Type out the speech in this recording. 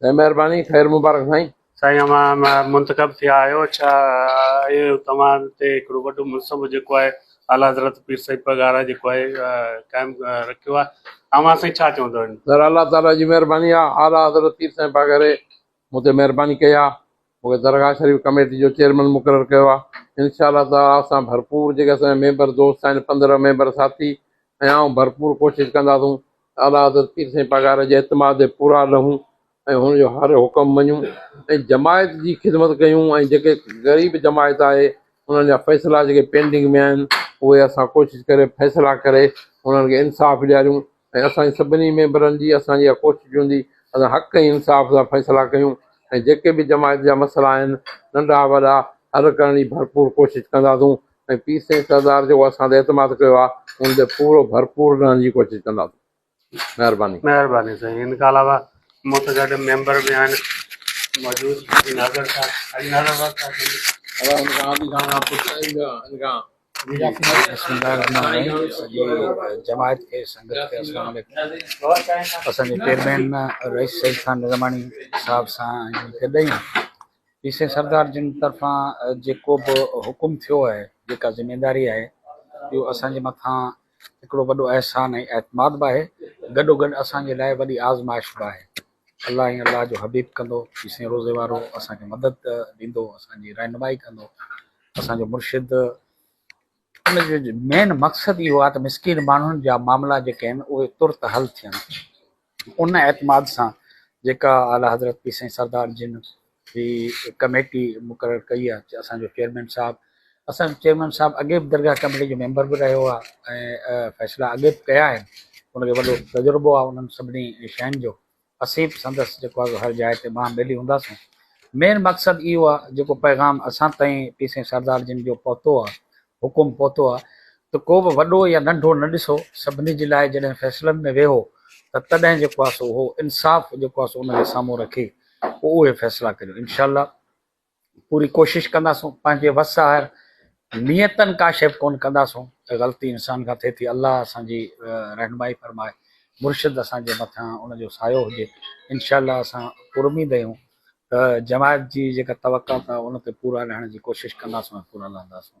سائين مهرباني خير مبارڪ سائين. سائين اوهان منتخب ٿيا آهيو ڇا اهي توهان تي هڪڙو وڏو منصب جيڪو آهي اعليٰ حضرت پير سيد پرگاره جيڪو آهي قائم رکيو آهي اوهان سائين ڇا چوندو ان. سر الله تعالي جي مهرباني آ اعليٰ حضرت پير سائين پاگاري مون تي مهرباني ڪئي آ مون کي درگاهه شريف ڪميٽي جو چيئرمن مقرر ڪيو آ انشاء الله تعالي اسان ڀرپور جيڪي اسان جا ميمبر دوست آهن پندرهن ميمبر ساٿي ۽ آئون ڀرپور ڪوشش ڪنداسون اعليٰ حضرت پير سائين پاڳارا جي اعتماد جي پورا رهون ۽ هن جو هر حڪم مڃون ۽ جماعت جي خدمت ڪيون ۽ جيڪي غريب جماعت آهي انهن جا فيصلا جيڪي پينڊنگ ۾ آهن اهي اسان ڪوشش ڪري فيصلا ڪري انهن کي انصاف ڏياريون ۽ اسان جي سڀني ميمبرن جي اسان جي اها ڪوشش هوندي اسان حق ۽ انصاف سان فيصلا ڪيون ۽ جيڪي به جماعت جا مسئلا آهن ننڍا وڏا حل ڪرڻ جي ڀرپور ڪوشش ڪنداسون. ۽ پير سائين سردار جيڪو اسان تي اعتماد ڪيو آ ان تي پورو ڀرپور رهڻ جي ڪوشش ڪنداسين مهرباني. مهرباني سائين ان کان علاوه مون سان گڏ ميمبر به آهن موجود حاجي ناظر صاحب حاجي ناظر بخش صاحب جي ادا ان کان عادي خان کان پڇائين ان کان بسم الله الرحمن الرحيم سڄي جماعت کي سنگت کي السلام عليڪم اسان جي چيئرمين رئيس سعيد خان نظاماڻي صاحب سان ۽ ان کي ڏيئون پي سي سردار جن طرفان جيڪو به حڪم ٿيو آهي جيڪا ذميواري آهي اهو اسان جي مٿان هڪڙو وڏو احسان ۽ اعتماد به آهي گڏو گڏ اسان جي لاء وڏي آزمائش به آهي الله ۽ الله جو حبيب ڪندو پي سي روزي وارو اسان کي مدد ڏيندو اسان جي رهنمائي ڪندو اسان جو مرشد ان جو مين مقصد اهو آهي ته مسڪين ماڻهن جا معاملا جيڪي آهن اهي ترت حل ٿين. ان اعتماد سان جيڪا اعليٰ حضرت پير سائين سردار جن هي ڪميٽي مقرر ڪئي آهي اسان جو چيئرمين صاحب اسان جو چيئرمين صاحب اڳي به درگاهه ڪميٽي جو ميمبر به رهيو آهي ۽ فيصلا اڳي به ڪيا آهن ان کي وڏو تجربو آهي انهن سڀني شين جو اسين به سندس جيڪو آهي هر جاء تي ٻانهن ٻيلي هونداسون. مين مقصد اهو آ جيڪو پيغام اسان تائين پير سائين سردار جن جو پهتو آ حڪم پهتو آ ته ڪو به وڏو يا ننڍو نه ڏسو سڀني جي لاء جڏهن فيصلن ۾ ويهو ته تڏهن جيڪو آ سو اهو انصاف جيڪو آ سو ان کي سامهون رکي پوء اهي فيصلا ڪريو انشاء الله پوري ڪوشش ڪنداسون پنهنجي وس آهر نيتن ڪاشف ڪون ڪنداسون ته غلطي انسان کان ٿئي ٿي الله اسان جي رهنمائي فرمائي مرشد اسان جي مٿان ان جو سايو هجي انشاء الله اسان پراميد آهيون ته جماعت جي جيڪا توقعات آهي ان تي پورا لهڻ جي ڪوشش ڪنداسون ۽ پورا لهنداسون